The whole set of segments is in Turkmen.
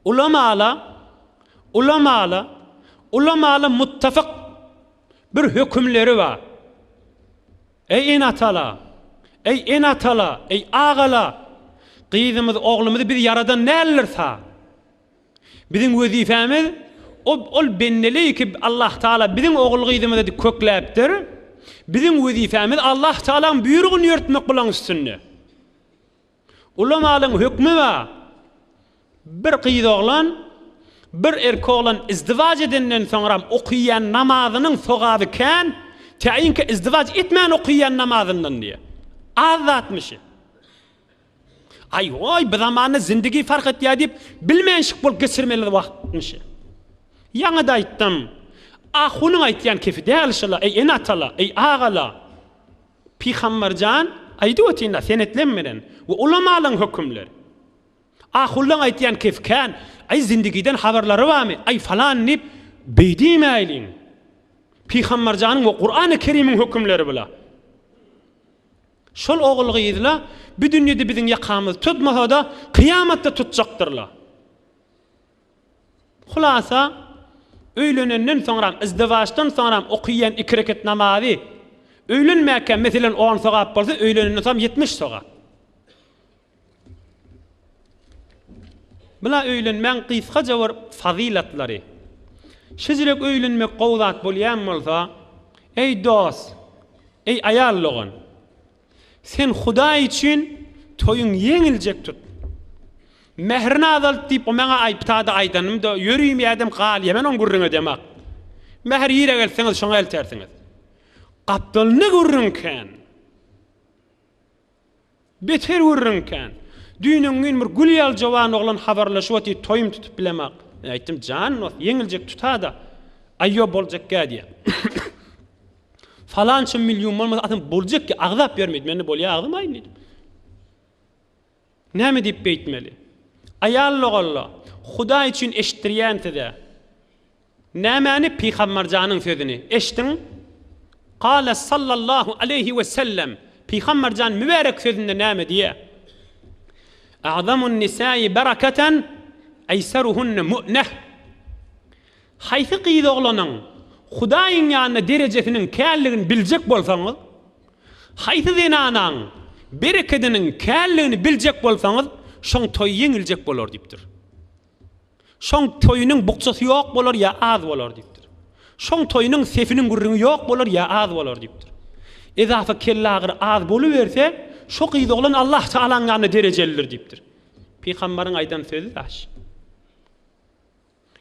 Ulamala, ulamala, ulamala muttafyk bir hökümleri bar. Eý ene-atala, eý ene-atala, eý agala, gyzymyzy, oglumyzy biz ýaradan däldir sa. Biziň wezipemiz ol bendeleri ki Allah taala biziň ogul-gyzymyzy edip kökläpdir. Biziň wezipemiz Allah taalaň buýrugyny ýörtmek bulaň üstünde. Ulamalyň hökmi bar. Bir gyz oglan, bir erkek oglan izdiwaç edenden soňram okaýan namazynyň sogaby kän, käýinki izdiwaç etmän okaýan namazyndan diýýär. Az zatmyşy. Aý-oý, bu zamanda zindigi fark etýär diýip, bilmänşik bolup geçirmeli wagtmyşy. Ýaňy-da aýtdym. Ahunyň aýtýan kefi däl şola, eý ene-atalar, eý agalar! Pygamber jan, aýdyp ötin-le, senetleň menen we ulamalaň hökümler. Ahullaň aýtýan kes kän, aý zindygiden habarlary barmy, aý falan diýip, beý diýmäýliň. Pygamber janyň we Kurany Kerimiň hökümleri bula. Şol ogul gyzla, bu dünýede biziň ýakamyzy tutmasa-da, kyýamatda tutjakdyrla. Hulasa, öýlenenden soňram, izdiwaçdan soňram okaýan iki rekat namazy, öýlenmäkä meselem on sogap bolsa, öýlenenden soňam ýetmiş sogap. Bula öýlenmäň gysgaja bir fazylatlary. Şejirek öýlenmek gowy zat bolýan bolsa, eý dost, eý aýal dogan, Sen Hudaý üçin toýuň ýeňiljek tut. Mährini azalt diýip, o maňa aýypdady aýdanymda, ýörümi ädim galýa men oň gürrüňe demak. Mähir ýere gelseňiz, şoňa eltersiňiz. Gapdalynda gürrüň kän. Beter gürrüň kän. Düýn-öň gün bir gül ýaly jowan oglan habarlaşyp otyr, toýum tutup bilemak. Men aýtdym, jan dost, ýeňiljek tuta-da, aýýob boljak-gä diýýän. Falança million bolmasa adam boljak ki agzap bermedi. Mende bolýa agzam aýyn diýdim. Näme diýip beýtmeli? Aýal logalla, Hudaý üçin eşitdirýän size. Nämäni Pygamberjanyň sözüni eşdiň? Qala sallallahu aleyhi ve sellem. Pygamberjan mübärek sözünde näme diýe? Agzamun nisai berakatan aysaruhunne mu'neh. Haýsy gyz-oglanyň Hudaýyň ýanynda derejesiniň känligini biljek bolsaňyz, haýsy zenanaň berekediniň känligini biljek bolsaňyz, şoň toýy ýeňiljek bolar diýipdir. Şoň toýunyň bukjasy ýok bolar ýa az bolar diýipdir. Şoň toýunyň sefiniň gürrüňi ýok bolar ýa az bolar diýipdir. Ezafa kellagyry az boluberse, şo gyz-oglan Allah Tagalaň ýanynda derejelidir diýipdir. Pygamberiň aýdan sözi daş.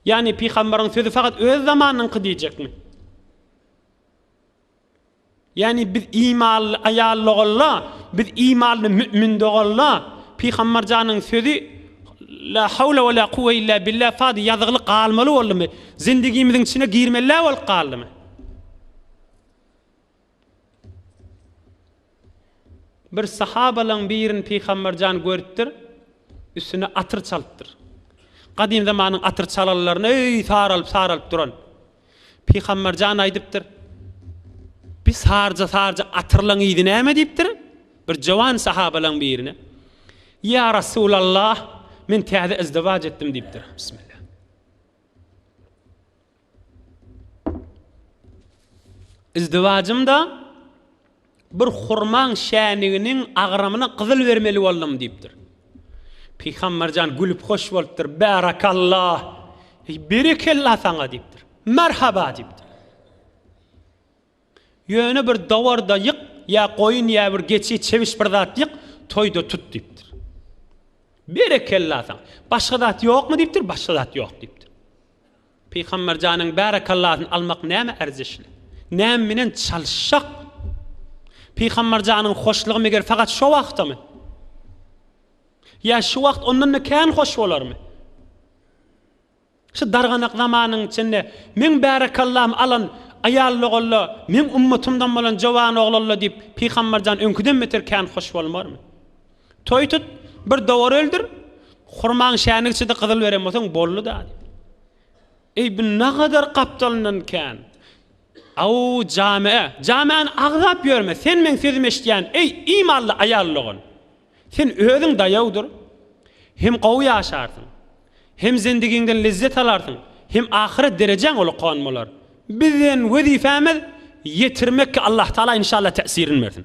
Ýagny pygamberiň sözi fakat öz zamanynyňky diýjekmi? Ýagny biz imanly aýal dogalla, biz imanly mü'min dogalla, pygamber janyň sözi La hawla we la kuwwe illa billah fady ýazygly galmaly boldumy? Zindigimiziň içine girmelä bolup galdymy? Bir sahabalaň birini Pygamber jan görüpdir, üstüne atyr çalypdyr. Gadym zamanyň atyr çalanlaryny öý saralyp-saralyp duran. Pygamber jan aýdypdyr, Bi sarja-sarja atyrlaň yzy näme diýipdir, bir jowan sahabalaň birine, Ýa Rasulallah, men täze izdiwaç etdim diýipdir. Bismillah. Yzdywajymda bir hurmaň şäniginiň agramyna gyzyl bermeli boldum diýipdir. Pygamberjan gülüp hoş bolupdyr. Bärakalla! Berekella saňa diýipdir. Merhaba diýipdir. Ýöne bir dawarda ýyk, ýa goýun, ýa bir geçi, çebiş bir zat ýyk, toýda tut diýipdir. Berekella saňa! Başga zat ýokmy diýipdir, başga zat ýok diýipdir. Pygamber janyň bärekallasyny almak näme erzeşli? Näme bilen çalyşjak? Pygamber janyň hoşlugy meger fakat şo wagtamy? Ýa şu wagt ondan-da kän hoş bolarmy? Şu darganak zamanyň içinde meň bärekallam alan aýallogalla, meň ummatymdan bolan jowanoglalla diýip Pygamberjan öňküden beter kän hoş bolmarmy? Toý tut, bir dowar öldür, hurmaň şäni içidi gyzyl beren bolsaň boldy-da diýip. Eý bu nagadar gapdalyndan kän. Aw jame, jamäni agzap ýörme, sen meň sözümi eşitýän, eý imanly aýallogal. Sen özüň daýawdyr, hem gowy ýaşarsyň, hem zendigiňden lezzet alarsyň, hem ahyret derejäň ulakan bolar. Biziň wezipämiz ýetirmekki Allahtagala inşallah täsirin bersin.